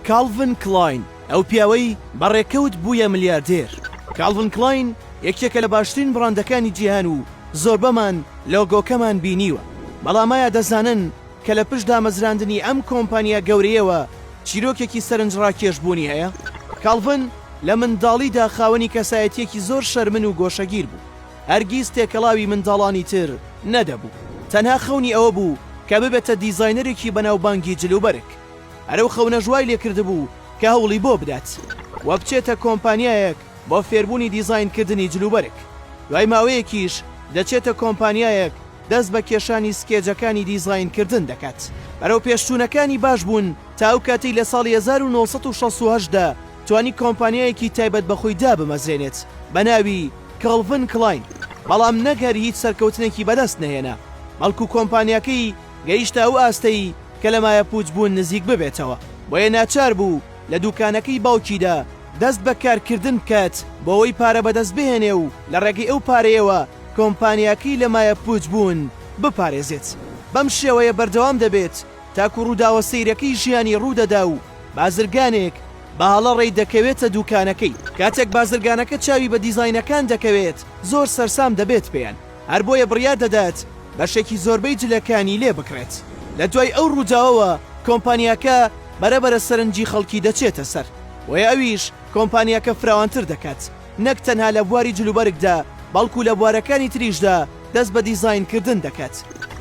کاڵڤن کڵاین، ئەو پیاوەی بە ڕێکەوت بوویە ملیاردێر. کاڵڤن کڵاین یەکێکە لە باشترین بڕاندەکانی جیهان و زۆربەمان لۆگۆکەمان بینیوە، بەڵام ئایا دەزانن کە لە پشت دامەزراندنی ئەم کۆمپانیا گەورەیەوە چیرۆکێکی سەرنجڕاکێش بوونی هەیە؟ کاڵڤن لە منداڵیدا خاوەنی کەسایەتییەکی زۆر شەرمن و گۆشەگیر بوو. هەرگیز تێکەڵاوی منداڵانی تر نەدەبوو، تەنها خەونی ئەوە بوو کە ببێتە دیزاینەرێکی بەناوبانگی جلوبەرگ، هەر ئەو خەونەش وای لێکردبوو کە هەوڵی بۆ بدات و بچێتە کۆمپانیایەک بۆ فێربوونی دیزاینکردنی جلوبەرگ، دوای ماوەیەکیش دەچێتە کۆمپانیایەک دەست بە کێشانی سکێجەکانی دیزاینکردن دەکات. بەرەوپێشچوونەکانی باش بوون تا ئەو کاتەی لە ساڵی هەزار و نۆ سەد و شەست و هەشت دا، توانی کۆمپانیایەکی تایبەت بە خۆی دابمەزرێنێت بە ناوی، کاڵڤن کڵاین، بەڵام نەک هەر هیچ سەرکەوتنێکی بەدەست نەهێنا، بەڵکو کۆمپانیاکەی گەیشتە ئەو ئاستەی کە لە مایەپووچبوون نزیک ببێتەوە، بۆیە ناچار بوو لە دووکانەکەی باوکیدا دەست بە کارکردن بکات بۆوەی پارە بەدەست بهێنێ و لە ڕێگەی ئەو پارەیەوە کۆمپانیاکەی لە مایەپووچبوون بپارێزێت. بەم شێوەیە بەردەوام دەبێت. تاکو ڕووداوە سەیرەکەی ژیانی ڕوودەدا و بازرگانێک بە هەڵە ڕێی دەکەوێتە دووکانەکەی. کاتێک بازرگانەکە چاوی بە دیزاینەکان دەکەوێت زۆر سەرسام دەبێت پێیان، هەر بۆیە بڕیار دەدات بەشێکی زۆربەی جلەکانی لێ بکڕێت. لە دوای ئەو ڕووداوەوە کۆمپانیاکە بەرەبەرە سەرنجی خەڵکی دەچێتە سەر، بۆیە ئەویش کۆمپانیاکە فراوانتر دەکات. نەک تەنها لە بواری جلوبەرگدا بەڵکو لە بوارەکانی تریشدا دەست بە دیزاین کردن دەکەت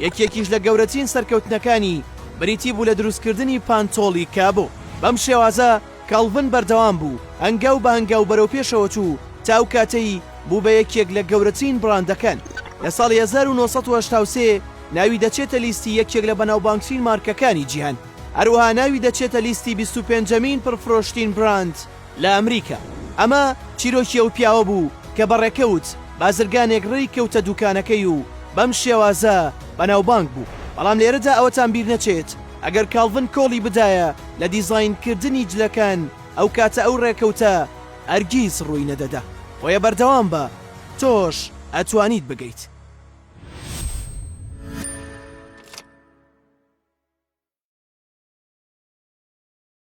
یەکێکیش لە گەورەترین سەرکەوتنەکانی بریتی بوو لە دروستکردنی پانتۆڵی کابۆ بەم شێوازە کاڵڤن بەردەوام بوو هەنگاو بە هەنگاو بەرەو پێشەوە چوو تا ئەو کاتەی بوو بە یەکێک لە گەورەترین بڕاندەکان لە ساڵی 1983 ناوی دەچێتە لیستی یەکێک لە بەناوبانگترین مارکەکانی جیهان هەروەها ناوی دەچێتە لیستی 25 ەمین پڕفرۆشترین بڕاند لە ئەمریکا. ئەمە چیرۆکی ئەو پیاوە بوو کە بە ڕێکەوت بازرگانێک ڕێی کەوتە دووکانەکەی و بەم شێوازە بەناوبانگ بوو. بەڵام لێرەدا ئەوەتان بیر نەچێت ئەگەر کاڵڤن کۆڵی بدایە لە دیزاینکردنی جلەکان ئەو کاتە ئەو ڕێکەوتە هەرگیز ڕووی نەدەدا. بۆیە بەردەوام بە، تۆش ئەتوانیت بگەیت.